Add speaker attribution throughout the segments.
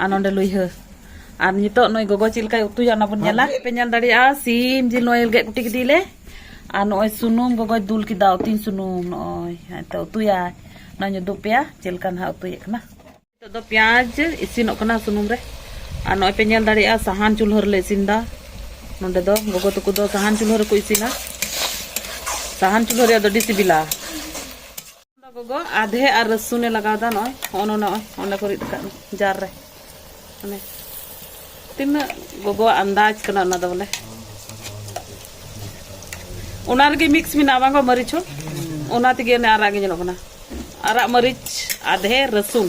Speaker 1: ᱟᱨ ᱱᱚᱰᱮ ᱞᱩᱭᱦᱟᱹ ᱟᱨ ᱱᱤᱛᱚᱜ ᱱᱩᱭ ᱜᱚᱜᱚ ᱪᱮᱫ ᱞᱮᱠᱟᱭ ᱩᱛᱩᱭᱟ ᱚᱱᱟ ᱵᱚᱱ ᱧᱮᱞᱟ ᱯᱮ ᱧᱮᱞ ᱫᱟᱲᱮᱭᱟᱜᱼᱟ ᱥᱤᱢ ᱡᱤᱞ ᱱᱚᱜᱼᱚᱭ ᱜᱮᱫ ᱠᱩᱴᱤ ᱠᱮᱫᱮᱭᱟᱞᱮ ᱟᱨ ᱱᱚᱜᱼᱚᱭ ᱥᱩᱱᱩᱢ ᱜᱚᱜᱚᱭ ᱫᱩᱞ ᱠᱮᱫᱟ ᱩᱛᱤᱧ ᱥᱩᱱᱩᱢ ᱱᱚᱜᱼᱚᱭ ᱦᱮᱸᱛᱚ ᱩᱛᱩᱭᱟᱭ ᱱᱚᱜᱼᱚᱭ ᱩᱫᱩᱜ ᱯᱮᱭᱟ ᱪᱮᱫ ᱞᱮᱠᱟ ᱱᱟᱦᱟᱜ ᱩᱛᱩᱭᱮᱫ ᱠᱟᱱᱟ ᱱᱤᱛᱚᱜ ᱫᱚ ᱯᱮᱸᱭᱟᱡᱽ ᱤᱥᱤᱱᱚᱜ ᱠᱟᱱᱟ ᱥᱩᱱᱩᱢ ᱨᱮ ᱟᱨ ᱱᱚᱜᱼᱚᱭ ᱯᱮ ᱧᱮᱞ ᱫᱟᱲᱮᱭᱟᱜᱼᱟ ᱥᱟᱦᱟᱱ ᱪᱩᱞᱦᱟᱹ ᱨᱮᱞᱮ ᱤᱥᱤᱱᱫᱟ ᱱᱚᱰᱮ ᱫᱚ ᱜᱚᱜᱚ ᱛᱟᱠᱚ ᱫᱚ ᱥᱟᱦᱟᱱ ᱪᱩᱞᱦᱟᱹ ᱨᱮᱠᱚ ᱤᱥᱤᱱᱟ ᱥᱟᱦᱟᱱ ᱪᱩᱞᱦᱟᱹ ᱨᱮᱭᱟᱜ ᱫᱚ ᱟᱹᱰᱤ ᱥᱤᱵᱤᱞᱟ ᱜᱚᱜᱚ ᱟᱫᱷᱮ ᱟᱨ ᱨᱟᱹᱥᱩᱱᱮ ᱞᱟᱜᱟᱣᱫᱟ ᱱᱚᱜᱼᱚᱭ ᱦᱚᱸᱜᱼᱚ ᱱᱚᱜᱼᱚᱭ ᱚᱸᱰᱮ ᱠᱚ ᱨᱤᱫ ᱟᱠᱟᱫ ᱡᱟᱨ ᱨᱮ ᱢᱟᱱᱮ ᱛᱤᱱᱟᱹᱜ ᱜᱚᱜᱚᱣᱟᱜ ᱟᱱᱫᱟᱡᱽ ᱠᱟᱱᱟ ᱚᱱᱟ ᱫᱚ ᱵᱚᱞᱮ ᱚᱱᱟ ᱨᱮᱜᱮ ᱢᱤᱠᱥ ᱢᱮᱱᱟᱜᱼᱟ ᱵᱟᱝ ᱢᱟᱹᱨᱤᱪ ᱦᱚᱸ ᱚᱱᱟ ᱛᱮᱜᱮ ᱚᱱᱮ ᱟᱨᱟᱜ ᱜᱮ ᱧᱮᱞᱚᱜ ᱠᱟᱱᱟ ᱟᱨᱟᱜ ᱢᱟᱹᱨᱤᱪ ᱟᱫᱷᱮ ᱨᱟᱹᱥᱩᱱ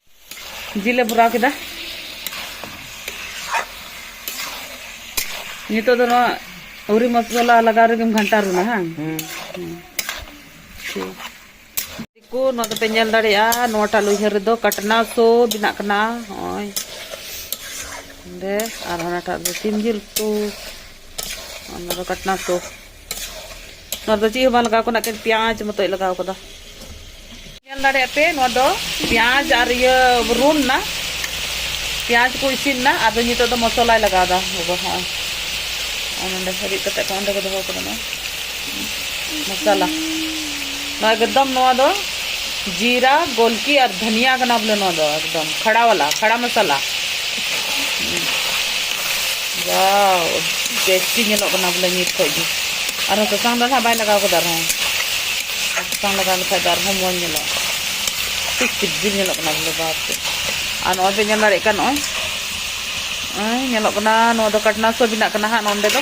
Speaker 1: ᱡᱤᱞᱮ ᱵᱷᱚᱨᱟᱣ ᱠᱮᱫᱟ ᱱᱤᱛᱚᱜ ᱫᱚ ᱱᱚᱣᱟ ᱟᱹᱣᱨᱤ ᱢᱚᱥᱞᱟ ᱞᱟᱜᱟᱣ ᱨᱮᱜᱮᱢ ᱜᱷᱟᱱᱴᱟ ᱨᱩᱱᱟ ᱦᱟᱝ ᱠᱚ ᱱᱚᱣᱟ ᱫᱚᱯᱮ ᱧᱮᱞ ᱫᱟᱲᱮᱭᱟᱜᱼᱟ ᱱᱚᱣᱟᱴᱟᱜ ᱞᱩᱭᱦᱟᱹ ᱨᱮᱫᱚ ᱠᱟᱴᱱᱟ ᱥᱚ ᱵᱮᱱᱟᱜ ᱠᱟᱱᱟ ᱱᱚᱜᱼᱚᱭ ᱚᱸᱰᱮ ᱟᱨ ᱚᱱᱟᱴᱟᱜ ᱫᱚ ᱥᱤᱢ ᱡᱤᱞ ᱠᱚ ᱚᱱᱟ ᱫᱚ ᱠᱟᱴᱱᱟ ᱥᱚ ᱱᱚᱣᱟ ᱫᱚ ᱪᱮᱫ ᱦᱚᱸ ᱵᱟᱝ ᱞᱟᱜᱟᱣ ᱠᱟᱱᱟ ᱮᱠᱮᱱ ᱯᱮᱸᱭᱟᱡᱽ ᱢᱚᱛᱚᱭ ᱞᱟᱜᱟᱣ ᱠᱟᱫᱟ ᱧᱮᱞ ᱫᱟᱲᱮᱭᱟᱜ ᱯᱮ ᱱᱚᱣᱟ ᱫᱚ ᱯᱮᱸᱭᱟᱡᱽ ᱟᱨ ᱤᱭᱟᱹ ᱨᱩᱱ ᱱᱟ ᱯᱮᱸᱭᱟᱡᱽ ᱠᱚ ᱤᱥᱤᱱ ᱱᱟ ᱟᱫᱚ ᱱᱤᱛᱚᱜ ᱫᱚ ᱢᱚᱥᱞᱟᱭ ᱞᱟᱜᱟᱣ ᱫᱟ ᱜᱚᱜᱚ ᱦᱚᱸ ᱱᱚᱰᱮ ᱨᱤᱫ ᱠᱟᱛᱮ ᱠᱚ ᱚᱸᱰᱮ ᱠᱚ ᱫᱚᱦᱚ ᱠᱟᱫᱟ ᱢᱚᱥᱞᱟ ᱱᱚᱣᱟ ᱮᱠᱫᱚᱢ ᱱᱚᱣᱟ ᱫᱚ ᱡᱤᱨᱟ ᱜᱚᱞᱠᱤ ᱟᱨ ᱫᱷᱟᱱᱤᱭᱟ ᱠᱟᱱᱟ ᱵᱚᱞᱮ ᱱᱚᱣᱟ ᱫᱚ ᱮᱠᱫᱚᱢ ᱠᱷᱟᱲᱟ ᱣᱟᱞᱟ ᱠᱷᱟᱲᱟ ᱢᱚᱥᱟᱞᱟ ᱵᱟᱣ ᱴᱮᱥᱴᱤ ᱧᱮᱞᱚᱜ ᱠᱟᱱᱟ ᱵᱚᱞᱮ ᱱᱤᱛ ᱠᱷᱚᱡ ᱜᱮ ᱟᱨᱦᱚᱸ ᱥᱟᱥᱟᱝ ᱫᱚ ᱱᱟᱦᱟᱜ ᱵᱟᱭ ᱞᱟᱜᱟᱣ ᱠᱟᱫᱟ ᱟᱨᱦᱚᱸ ᱥᱟᱥᱟᱝ ᱞᱟᱜᱟᱣ ᱞᱮᱠᱷᱟᱡ ᱫᱚ ᱟᱨᱦᱚᱸ ᱢᱚᱡᱽ ᱧᱮᱞᱚᱜᱼᱟ ᱟᱹᱰᱤ ᱥᱤᱵᱤᱞ ᱧᱮᱞᱚᱜ ᱠᱟᱱᱟ ᱵᱚᱞᱮ ᱵᱟᱯ ᱨᱮ ᱟᱨ ᱱᱚᱜᱼᱚᱭ ᱯᱮ ᱧᱮᱞ ᱫᱟᱲᱮᱭᱟᱜ ᱠᱟᱱ ᱱᱚᱜᱼᱚᱭ ᱱᱚᱜᱼᱚᱭ ᱧᱮᱞᱚᱜ ᱠᱟᱱᱟ ᱱᱚᱣᱟ ᱫᱚ ᱠᱟᱴᱱᱟ ᱥᱚ ᱵᱮᱱᱟᱜ ᱠᱟᱱᱟ ᱦᱟᱸᱜ ᱱᱚᱸᱰᱮ ᱫᱚ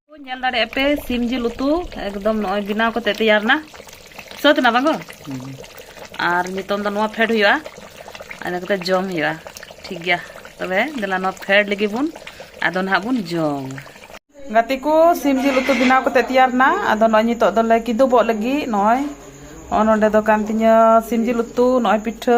Speaker 1: ᱧᱮᱞ ᱫᱟᱲᱮᱭᱟᱜ ᱯᱮ ᱥᱤᱢ ᱡᱤᱞ ᱩᱛᱩ ᱮᱠᱫᱚᱢ ᱱᱚᱜᱼᱚᱭ ᱵᱮᱱᱟᱣ ᱠᱟᱛᱮ ᱛᱮᱭᱟᱨ ᱮᱱᱟ ᱥᱟᱹᱛ ᱮᱱᱟ ᱵᱟᱝ ᱟᱨ ᱱᱤᱛᱚᱝ ᱫᱚ ᱱᱚᱣᱟ ᱯᱷᱮᱰ ᱦᱩᱭᱩᱜᱼᱟ ᱟᱫᱚ ᱠᱟᱛᱮ ᱡᱚᱢ ᱦᱩᱭᱩᱜᱼᱟ ᱴᱷᱤᱠ ᱜᱮᱭᱟ ᱛᱚᱵᱮ ᱫᱮᱞᱟ ᱱᱚᱣᱟ ᱯᱷᱮᱰ ᱞᱟᱹᱜᱤᱫ ᱵᱚᱱ ᱟᱫᱚ ᱱᱟᱦᱟᱜ ᱵᱚᱱ ᱡᱚᱢ ᱜᱟᱛᱮ ᱠᱚ ᱥᱤᱢ ᱡᱤᱞ ᱩᱛᱩ ᱵᱮᱱᱟᱣ ᱠᱟᱛᱮ ᱛᱮᱭᱟᱨ ᱮᱱᱟ ᱟᱫᱚ ᱱᱚᱜᱼᱚᱭ ᱱᱤᱛᱚᱜ ᱫᱚᱞᱮ ᱠᱤᱫᱩᱵᱚᱜ ᱞᱟᱹᱜᱤᱫ ᱱᱚᱜᱼᱚᱭ ᱱᱚᱜᱼᱚ ᱱᱚᱰᱮ ᱫᱚ ᱠᱟᱱ ᱛᱤᱧᱟᱹ ᱥᱤᱢ ᱡᱤᱞ ᱩᱛᱩ ᱱᱚᱜᱼᱚᱭ ᱯᱤᱴᱷᱟᱹ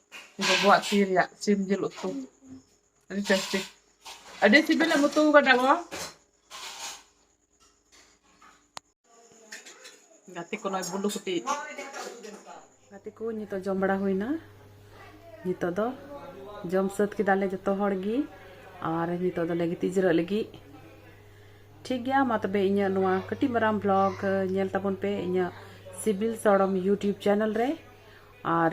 Speaker 1: ᱜᱚᱜᱚᱣᱟᱜ ᱛᱤ ᱨᱮᱭᱟᱜ ᱥᱤᱢ ᱡᱤᱞ ᱩᱛᱩ ᱟᱹᱰᱤ ᱴᱮᱥᱴᱤ ᱟᱹᱰᱤ ᱥᱤᱵᱤᱞ ᱮᱢ ᱩᱛᱩ ᱟᱠᱟᱫᱟ ᱜᱚ ᱜᱟᱛᱮ ᱠᱚ ᱱᱚᱜᱼᱚᱭ ᱵᱩᱞᱩ ᱠᱩᱴᱤ ᱜᱟᱛᱮ ᱠᱚ ᱱᱤᱛᱚᱜ ᱡᱚᱢ ᱵᱟᱲᱟ ᱦᱩᱭᱱᱟ ᱱᱤᱛᱚᱜ ᱫᱚ ᱡᱚᱢ ᱥᱟᱹᱛ ᱠᱮᱫᱟᱞᱮ ᱡᱚᱛᱚ ᱦᱚᱲ ᱜᱮ ᱟᱨ ᱱᱤᱛᱚᱜ ᱫᱚᱞᱮ ᱜᱤᱛᱤᱡ ᱡᱤᱨᱟᱹᱜ ᱞᱟᱹᱜᱤᱫ ᱴᱷᱤᱠ ᱜᱮᱭᱟ ᱢᱟ ᱛᱚᱵᱮ ᱤᱧᱟᱹᱜ ᱱᱚᱣᱟ ᱠᱟᱹᱴᱤᱡ ᱢᱟᱨᱟᱝ ᱵᱞᱚᱜ ᱧᱮᱞ ᱛᱟᱵᱚᱱ ᱯᱮ ᱤᱧᱟᱹᱜ ᱥᱤᱵᱤᱞ ᱥᱚᱲᱚᱢ ᱤᱭᱩᱴᱤᱭᱩᱵᱽ ᱪᱮᱱᱮᱞ ᱨᱮ ᱟᱨ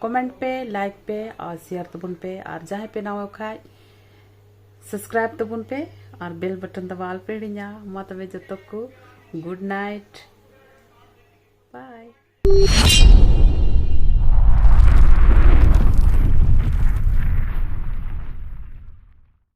Speaker 1: ᱠᱚᱢᱮᱱᱴ ᱯᱮ ᱞᱟᱭᱤᱠ ᱯᱮ ᱟᱨ ᱥᱮᱭᱟᱨ ᱛᱟᱵᱚᱱ ᱯᱮ ᱟᱨ ᱡᱟᱦᱟᱸᱭ ᱯᱮ ᱱᱟᱣᱟ ᱠᱷᱟᱡ ᱥᱟᱵᱥᱠᱨᱟᱭᱤᱵ ᱛᱟᱵᱚᱱ ᱯᱮ ᱟᱨ ᱵᱮᱞ ᱵᱟᱴᱚᱱ ᱫᱟᱵᱟᱣ ᱟᱞᱯᱮ ᱦᱤᱲᱤᱧᱟ ᱢᱟ ᱛᱚᱵᱮ ᱡᱚᱛᱚ ᱠᱚ ᱜᱩᱰ ᱱᱟᱭᱤᱴ